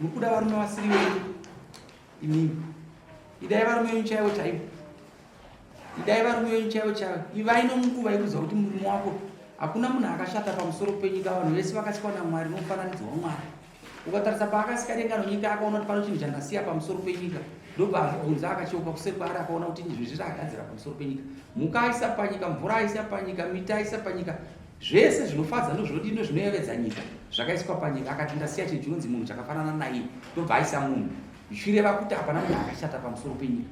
muri kuda varume vasiri venyu imimi idai varume venyu chaivo chaivo idai varume venyu chaivo chaivo ivai nomunguva yekuziva kuti murume wako hakuna munhu akashata pamusoro penyika vanhu vese vakasikwa namwari nomufananidzo wamwari ukatarisa paakasika denga nonyika akaona kuti pano chinhu chandasiya pamusoro penyika ndobva azvibvunza akacheuka kusekwaari akaona kuti izvezvi zvaagadzira pamusoro penyika mhuka aisa panyika mvura aisa panyika miti aisa panyika Zvese zvinofadza nozvodii nozvinoyevedza nyika zvakaiswa panyika akati ndasiya chinhu chinonzi munhu chakafanana naiye ndobva aisa munhu zvichireva kuti hapana munhu akashata pamusoro penyika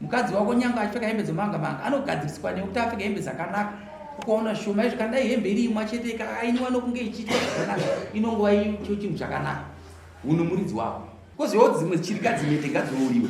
mukadzi wako nyanga achipfeka hembe dzemanga manga anogadziriswa nekuti apfeka hembe dzakanaka ukaona shoma izvi kandai hembe iri imwa chete ikainiwa nokunge ichiitwa zvakanaka inongova icho chinhu chakanaka hunhu muridzi wako kozivawo dzimwe chirikadzi mete ngadzirouriwe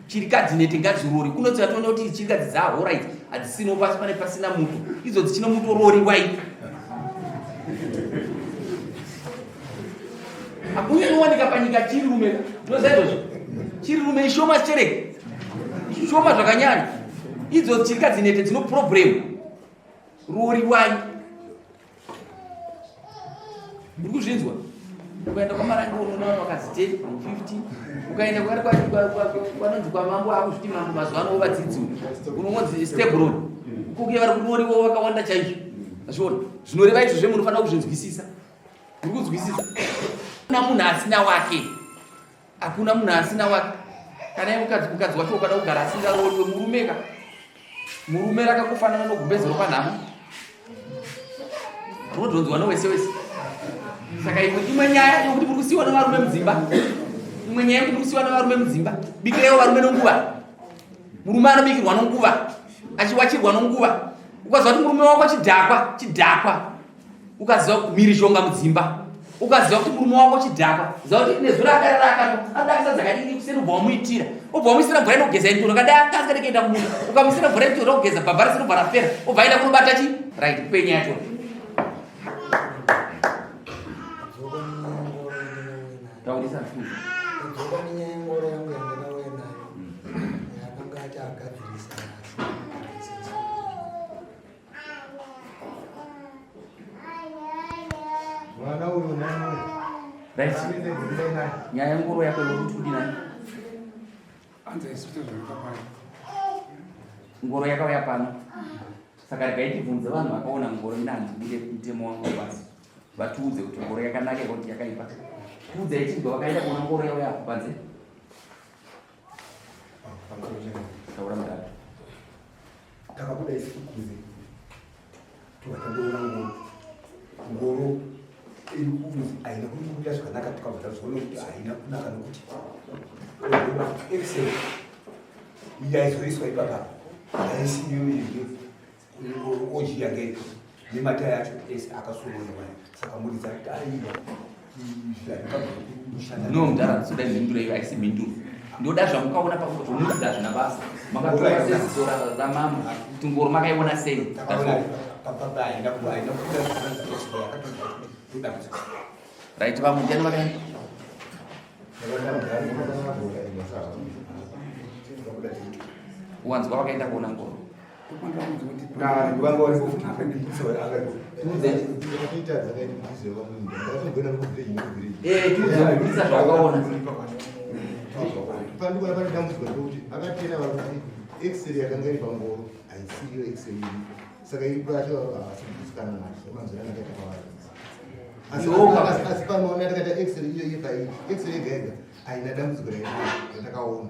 chirikadzi nete ngadzirori kunoti vatoona kuti chirikadzi dzahora idzi hadzisino pasi pane pasina muto idzo dzichino mutorori wai hakunyaniwanika panyika chiri rume ndinoza izvozvo chiri rume ishoma zvichereke ishoma zvakanyanya idzo chirikadzi nete dzino problemu rori wai muri kuzvinzwa ukaenda kwamarange unoona vanhu vakazi 10 15 ukaenda kwanonzi kwamambo akuzviti mambo mazuva ano vovadzidzi unongonzi stebron kuke vari kunoriwo vakawanda chaizvo azviona zvinoreva izvo zve munofanira kuzvinzwisisa muri kunzwisisa na munhu asina wake Hakuna munhu asina wake. Kana iwe mukadzi mukadzi wacho ukada kugara asingarooriwe murume ka. Murume rakakufanana nogumbezero panhamo. Unodhonzwa nowese wese. Saka imwe imwe nyaya yokuti muri kusiwa nevarume mudzimba. Imwe nyaya yokuti muri kusiwa nevarume mudzimba. Bikirewo varume nonguva. Murume anobikirwa nonguva. Achiwachirwa nonguva. Ukaziva kuti murume wako chidhakwa chidhakwa ukaziva kuti mhirizhonga mudzimba ukaziva kuti murume wako chidhakwa ziva kuti nezuro adari raakano adakisa dzakadii kuseni ubva wamuitira ubva wamuisira mvura inogeza inturo kadai akanga ndikaenda kumunda ukamuisira mvura inturo kugeza bhabha risiri kubva rapera ubva aenda kunobata chi right penya yacho taurisa futi nyaya ngoro yako yokuti kudi nani ngoro yakauya pano saka regai tibvunze vanhu vakaona ngoro ina handibude mutemo wangu basi vatiudze kuti ngoro yakanaka kuti yakaipa tiudze yechibva vakaenda kuona ngoro yauya apo panze Taura mudhara. Takabuda isi kukuze. Tukatandoona ngoro. Ngoro iri kunzi haina kunyukuta zvakanaka tikabva tazoona kuti haina kunaka nokuti excellent yaizoiswa ipapa yaisiyo iyo ojiya ngei nemataya acho ese akasononewa saka muridza taiwa no mudhara soda mhinduro iyo aisi mhinduro ndoda zvangu kaona pakuzomuridza zvina basa makatoaezora ramama kuti ngoro makaiona sei right vamudhani vakai wanzwa vakaenda kuona ngoro pandikuona pane dambudziko rekuti akatera vakuti exeri yakanga iri pangoro haisiyo exeri iri saka iri kwacho havasi kudisikana nacho manzira anenge atakavarisa asi panoona takaita exeri iyo iyo paii exeri yega yega haina dambudziko rainaa ratakaona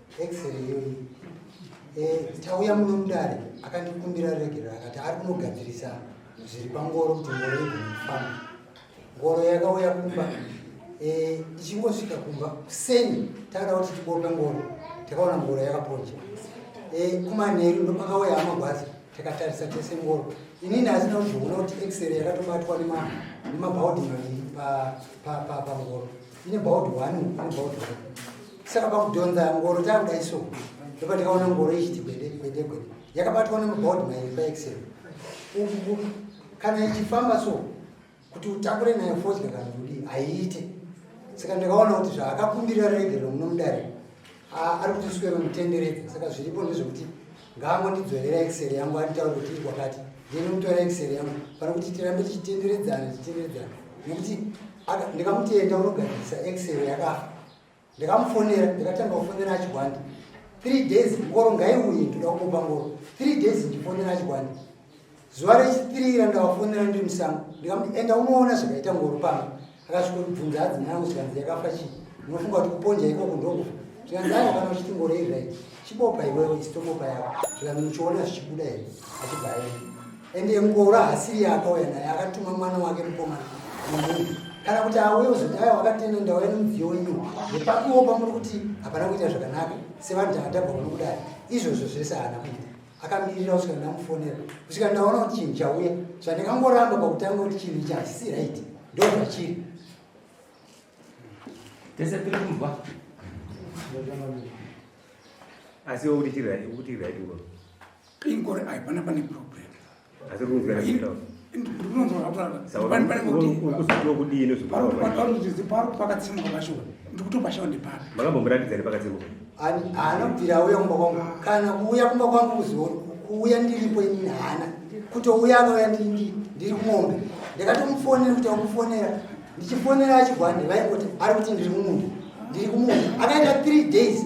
x-ray iyoyi eh, tauya muno mudare akandikumbira regero akati ari kunogadzirisa zviri pangoro kuti ngoro igonofamba ngoro yakauya kumba eh, ichingosvika kumba kuseni takada kuti tibope ngoro takaona ngoro yakaponja eh, kumanheru ndopakauya amagwazi takatarisa tese ngoro inini asina kuzviona kuti x-ray yakatobatwa nemabhaudhi maviri pangoro pa, pa, pa, pa, ine baud one ine baud one saka pakudhonza ngoro takudai so ndopa ndikaona ngoro ichiti gwede gwede gwede yakabatwa nemubaud mairi paexel uku kana ichifamba so kuti utakure nayo fodya kana kudii haiite saka ndakaona kuti zvaakakumbirira regero munomudare ari kutiswero mutenderedza saka zviripo ndezvekuti ngaangondidzorera excel yangu anditaure kuti iri kwakati ndinomutora excel yangu pana kuti tirambe tichitenderedzana tichitenderedzana nekuti ndikamutenda unogadzirisa excel yakafa ndikamufonera ndikatanga kufonera achigwandi three days ngoro ngaiuye ndoda kumupa ngoro three days ndifonera achigwandi zuva rechitiri ira ndakafonera ndiri musango ndikamuti enda unoona zvakaita ngoro pano akasvikoribvunza hadzi mwanangu zvikanzi yakafa chii unofunga kuti kuponja ikoko ndokufa zvikanzi ayo kana uchiti ngoro izvai chibopa iwewe isitobopa yako zvikanzi muchiona zvichibuda here achibva aenda ende ngoro hasiri yaakauya naye akatuma mwana wake mukomana nemunhu kana kuti auye uzoti ayo wakatenda ndauya nemudziyo wenyu nepakuopa muri kuti hapana kuita zvakanaka sevanhu takatabva kuno kudai izvozvo zvese haana kuita akamirira kusvika ndamufonera kusvika ndaona kuti chinhu chauya zvandikangoramba pakutanga kuti chinhu ichi hachisi right ndo zvachiri tese tiri kunzwa asi wekuti chiri right wekuti right uko ingori aipana pane problem asi kunzwira zvitaura pakatsemuka pacho ndikutopa shawa nepapi makambomuratidzani pakatsemuka anobvira auya kumba kwangu kana kuuya kumba kwangu kuzoni kuuya ndiripo inini haana kutouya akauya ndiri kumombe ndakatomufonera kuti akufonera ndichifonera achibva ndivaikuti ari kuti ndiri mumunda ndiri kumunda akaita three days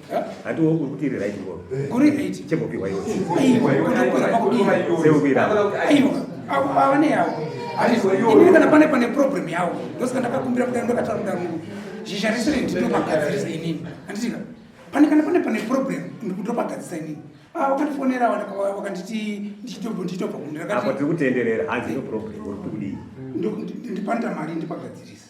hanti uri kuti iri right ngoro kuri right chembopiwa iwe kana pane pane problem yawo ndosaka ndakakumbira kudai ndakataura kudai mungu zhizha rese rendindomagadzirisa inini handitika pane kana pane pane problem ndikundopagadzisa inini ah, wakandifonera wakanditi ndichitobva ndichitobva kundirapo tiri kutenderera hanzi no problem uri kudii ndipanda mari ndipagadzirisa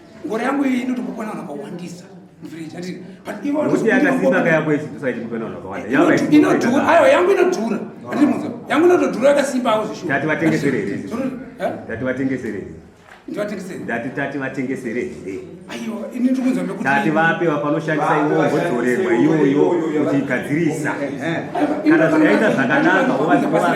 ngoro yangu iyi inoti kupona vanhu vakawandisa inodhura ayo yangu inodhura andimuza yangu inotodhura yakasimbawo zvishati vatengesere here tati vatengesere here ndati tati vatengesere here tati vape vapanoshandisa iwo vodzorerwa iyoyo kuti igadzirisa kana zvakaita zvakanaka ovazivaa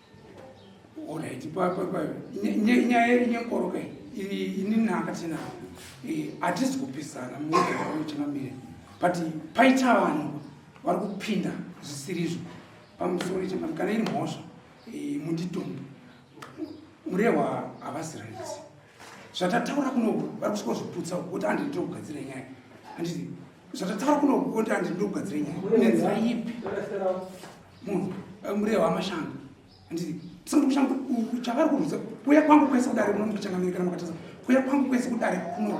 Alright, papa papa. Nyaya iri nyekoroka iri ini nanga tena. Eh, atisi kupisana mmoja wao chama mire. But paita vanhu vari kupinda zvisiri izvo. Pamusoro chama kana iri mhosva. Eh, munditombo. Murewa havasi right. zvatataura kuno vari kusvika zviputsa kuti andi ndiri kugadzira nyaya anditi zvatataura kuno kuti andi ndiri kugadzira nyaya nenzira ipi munhu eh, mureva amashanga anditi tisati kushanga chavari kurudza kuya kwangu kwese kudare munomukuchangamiri kana mukatasa kuya kwangu kwese kudare kuno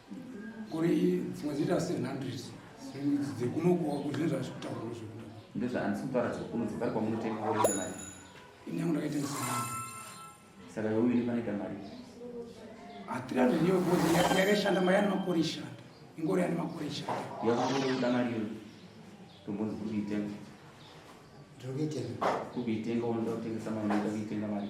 kuri dzimwe dzinoita 700 dzekunokuwa kuzvine zvazvi kutaurwa zvekuda ndezvaandisi kutaura dzekuno dzekare kwamunotenga woita mari ini yangu ndakaitengesa mari saka yeuyu ine panoita mari hatirani ndiyo bhozi yakaishanda mari yanimakore ishanda ingori yanimakore ishanda yakunoda mari iyo tombonzi kuri kuitenga ndiri kuitenga kuri kuitenga unoda kutengesa mari unoda kuitenga mari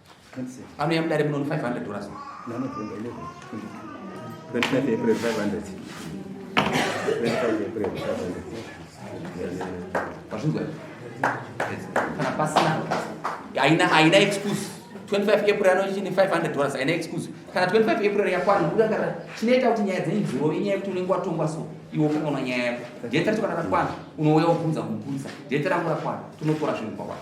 anouya mudare munono 500 dollars vazvinzwa kana pasina haina haina excuse 25 april anochine 500 dollars haina excuse kana 25 april yakwana nekuda kana chinoita kuti nyaya dzenyu dzirove inyaya yekuti unenge watongwa so iwe ukaona nyaya yako deta racho kana rakwana unouya wobvunza kumupurisa deta rangu rakwana tonotora zvinhu kwakwana